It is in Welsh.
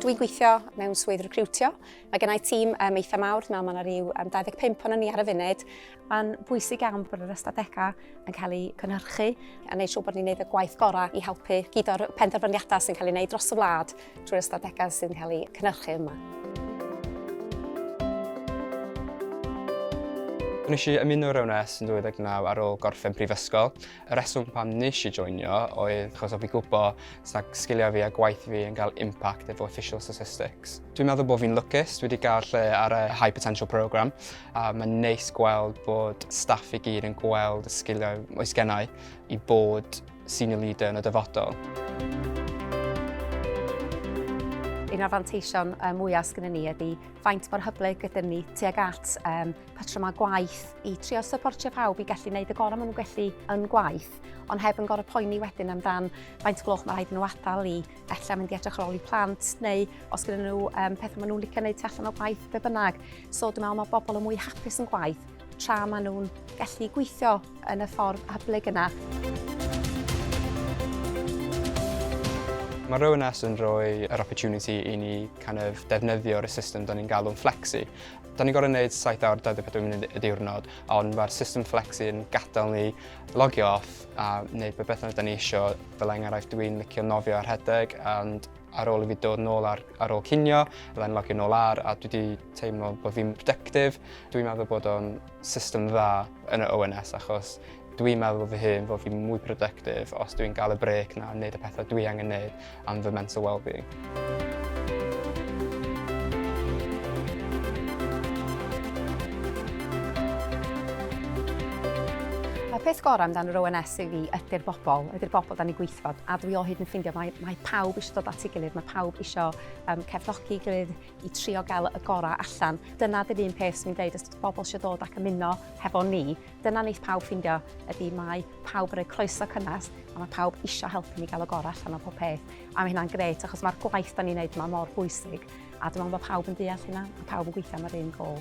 Dwi'n gweithio mewn swydd recriwtio. Mae gennau tîm um, eitha mawr, dwi'n meddwl mae yna rhyw um, 25 o'n ni ar y funud. Mae'n bwysig iawn bod yr ystadegau yn cael eu cynhyrchu a wneud siŵr bod ni'n gwneud y gwaith gorau i helpu gyd o'r penderfyniadau sy'n cael ei wneud dros y wlad drwy'r ystadegau sy'n cael eu cynhyrchu yma. Nes i ymuno rhywun es yn 2019 ar ôl gorffen prifysgol. Y rheswm pam nes i joinio oedd achos o fi gwybod sag sgiliau fi a gwaith fi yn cael impact efo official statistics. Dwi'n meddwl bod fi'n lwcus, dwi wedi cael lle ar y High Potential Programme a mae'n neis gweld bod staff i gyd yn gweld y sgiliau oes gennau i bod senior leader yn y dyfodol. Un o'r fanteision mwyaf sgynny ni ydy faint mor hyblyg ydym ni tuag at um, patrymau gwaith i trio syportio pawb i gallu gwneud y gorau maen nhw'n gallu yn gwaith, ond heb yn gorau poeni wedyn amdan faint gloch mae rhaid nhw adael i efallai mynd i edrych ar ôl i plant, neu os gyda nhw um, pethau maen nhw'n licio gwneud tu allan o gwaith, be bynnag. So dwi'n meddwl mae bobl yn mwy hapus yn gwaith tra maen nhw'n gallu gweithio yn y ffordd hyblyg yna. Mae Rowan S yn rhoi yr opportunity i ni kind of defnyddio'r system do'n ni'n galw'n flexi. Da ni'n gorfod gwneud 7 awr 24 munud y diwrnod, ond mae'r system flexi yn gadael ni logio off a wneud be beth da ni eisiau. Fel enghraifft, dwi'n licio nofio a rhedeg, ond ar ôl i fi dod nôl ar, ar ôl cinio, byddai'n logio nôl ar, a dwi wedi teimlo bod fi'n productive. Dwi'n meddwl bod o'n system dda yn y ONS achos Dwi'n meddwl fy hun fod fi'n mwy productive os dwi'n gael y brêc na wneud y pethau dwi angen wneud am fy mental well-being. peth gorau amdano yr ONS i fi ydy'r bobl, ydy'r bobl da ni gweithfod, a dwi o hyd yn ffeindio mae, mae pawb eisiau dod at ei gilydd, mae pawb eisiau um, cefnogi gilydd i trio gael y gorau allan. Dyna dy'r un peth sy'n ni'n dweud, os bobl eisiau dod ac ymuno hefo ni, Dyna wneith pawb ffindio, ydy mae pawb yn rhoi croeso cynnes a mae pawb eisiau helpu ni gael y gorau allan o pob peth. A mae hynna'n gret achos mae'r gwaith da ni'n neud yma mor bwysig a dwi'n meddwl bod pawb yn deall hynna a pawb yn gweithio am yr un gol.